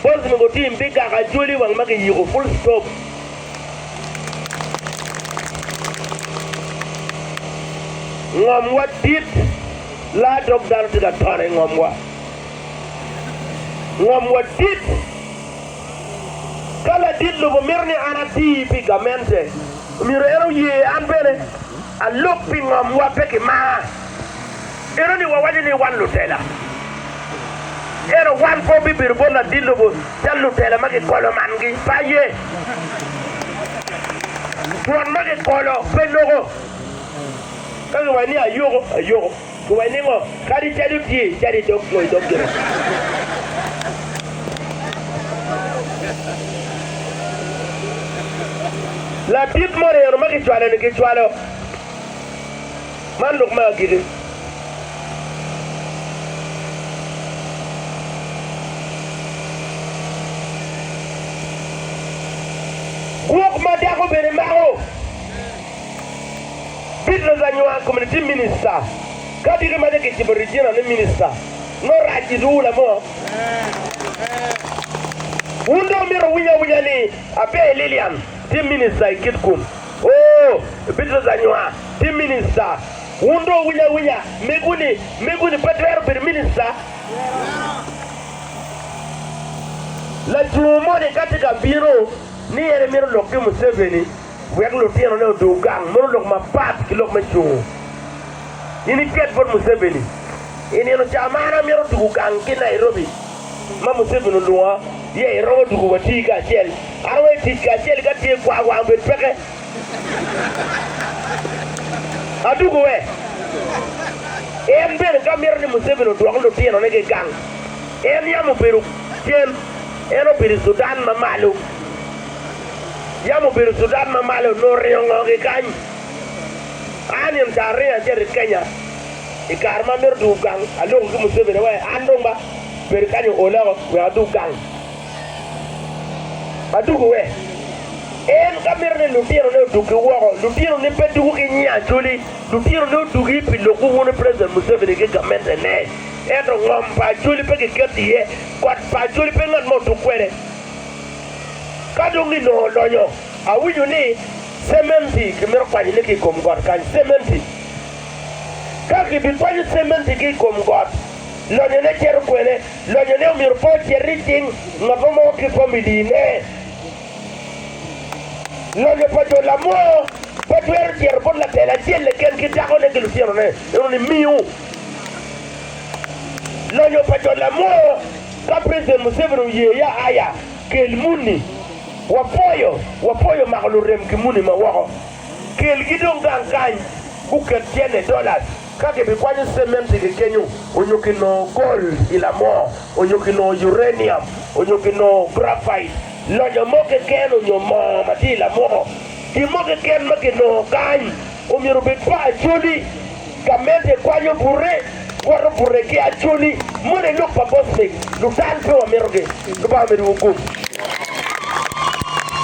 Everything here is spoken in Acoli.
Boss mogo team pi gako ajoli wang ma giyiko full stop. Ngom wa dit la dok dano tye ka tone ingom wa. Ngom wa dit. Ka ladit lobo mito ni an ati pi gamente, myero en oye an bene alub pi ngom wa pe ki mar. Ento ni wawaco ni wan lutela, ento wan pe wabibedo bot ladit lobo cal lutela ma gikolo mangi. Aye, twon ma gikolo pe loko. Ka giwaco ni ayoko, ayoko. Giwaco ni ngo? Kadi cadi otye, cadi dog ngo i dog gire. Ladit moni eno ma gicwalo-ni, gicwalo. Man lok me agikki. Gwok ma dako bene mako. Beatrice Anywar Community Minister, Ka agikki ma nyo kicibo Regina ni Minista, nongo rac i duula mo. Wun dong omyero wuwiny awinya ni Abbey Lillian tye Minista i Kitgum. Oo, Bitrus anywa, ti minista. Wun dong wuwinyo awinya, mego ni, mego ni pe twero bedo minista? Lacoo moni ka tye ka bino ni en emito lok ki Museveni wek lutinone odong gang, mono lok mapat ki lok me cungo. In iket bot Museveni, I nino ca man amito tugo gang ki Nairobi. ma Museveni olwonga iye iromo tuku wati kacel. An aweyo tic kacel ka tye kwar wang obed peke. Atuku we? En bene ka mito ni Museveni odwok lutino ne ki gang. En yam obedo cen. En obedo i Sudan ma malo. Yam obedo i Sudan ma malo nongo oringo ngo ki kany. An in ta aringo acito i Kenya. I kare ma amito dwogo gang, aloko ki Museveni ni wee an dong ba bedo kany oola woko wek adwog gang. Adwogo we? En ka mito ni lutinone odwogi woko, lutinoni pe dwogo ki nyi Acholi, lutinoni odwogi pi lok wungu ni President Museveni ki gamente ne. Ento ngom pa Acholi pe kiketo iye, kot pa Acholi pe ngat mo otuk kwede. Ka dong ginongo olonyo, awinyo ni cementi kimito kwanyone ki i kom got kany, cementi. Ka kibikwanyo cementigi i kom got, lonyone cito kwene? Lonyone omyero pe ocit i cing ngat mo mogo ki pom i dine. Lonyo pa jo lamwoo pe twero cito bot latel acel keken ki dakone ki lutinone. Eno ni miu lonyo pa jo lamwoo. Ka President Museveni oye ya aya, kel muni. Wapwoyo, wapwoyo mako lurem ki muni ma woko. Kelgi dong gang kany, guket tyene dollars ka gibikwanyo cementi ki kenyo, onyo ki nongo gold i lamoo, onyo ki nongo uranium, onyo ki nongo graphite, lonyo mo keken onyo moo ma tye i lamoo. Gin mo keken ma kinongo kany omyero obed pa Acholi. Gamente kwanyo bute, woto bute ki Acholi. Moni lok pa Bosnick. Lutal pe wamito gi. Lubanga omeddi wu gum.